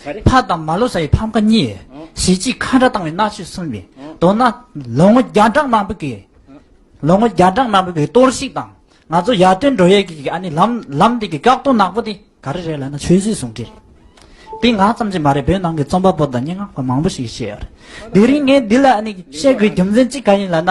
ཕག་དང་མ་ལོ་ས་ཡི་ཕམ་ཁ་གཉིས། གཞི་གཅིག་ཁ་འདྲ་བཏང་བའི་གནག་ཆུ་གསུམ། མདོར་ན་ལོ་ངོ་བརྒྱ་གྲངས་མང་པོའི་ལོ་ངོ་བརྒྱ་གྲངས་མང་པོའི་གཏོར་བཤིག་དང་ང་ཚོ་ཡར་ཐོན་འགྲོ་ཡས་ཀྱི་ཨ་ནི་ལམ་ལམ་འདི་གི་བཀག་སྡོམ་ནག་པོ་དེ་ག་རེ་རེད་ལ་ན་ཆོས་སྲིད་ཟུང་འབྲེལ་དེ་ང་ཙམ་གྱིས་མ་རེད་བོད་ནང་གི་རྩོམ་པ་པོ་དང་སྙན་ངག་པ་མང་པོ་ཞིག་གིས་བཤད་ཡོད་རེད་དེ་རིང་ངས་འདི་ལ་ཨ་ནི་བཤད་དགོས་རྒྱུ་མཚན་གཅིག་ག་ཡིན་ལ་ན།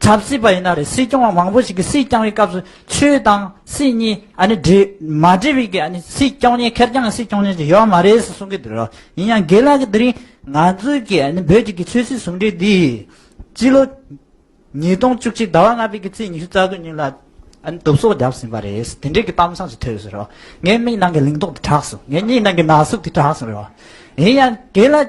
ཆབ་སྲིད་པ་ཡིན་ན་རེད་སྲིད་སྐྱོང་བ་མང་པོ་ཞིག་གིས་སྲིད་བསྐྱང་བའི་སྐབས་སུ་ཆོས་དང་སྲིད་གཉིས་ཨ་ནི་འདྲེས་མ་འདྲེས་པའི་གི་ཨ་ནི་སྲིད་སྐྱོང་ཉེན་ཁེར་རྐྱང་གི་སྲིད་སྐྱོང་ཉེན་ཅིག་ཡོད་མ་རེད་ཟེར་གསུངས་གི་འདུག་རོ་ཡིན་ཡང་དགེ་ལགས་ཀྱིས་འདི་རིང་ང་ཚོའི་གི་ཨ་ནི་བོད་ཀྱི་གི་ཆོས་སྲིད་ཟུང་འབྲེལ་འདི་སྤྱི་ལོ་ཉིས་སྟོང་བཅུ་གཅིག་ཟླ་བ་ལྔ་པའི་གི་ཚེས་ཉི་ཤུ་རྩ་དགུ་ཉིན་ལ་ཨ་ནི་དུབ་སོགས་བརྒྱབས་ཟིན་པ་རེད་དེ་འབྲེལ་གི་གཏམ་བཟང་ཞིག་ཐོས་ཟེར་རོ་ངའི་མིག་ནང་གི་ལིང་ཏོག་དེ་གྲགས་སོང་ངའི་སྙིང་ནང་གི་ན་ཟུག་དེ་གྲགས་སོང་རེད་བ་ཡིན་ཡང་དགེ་ལགས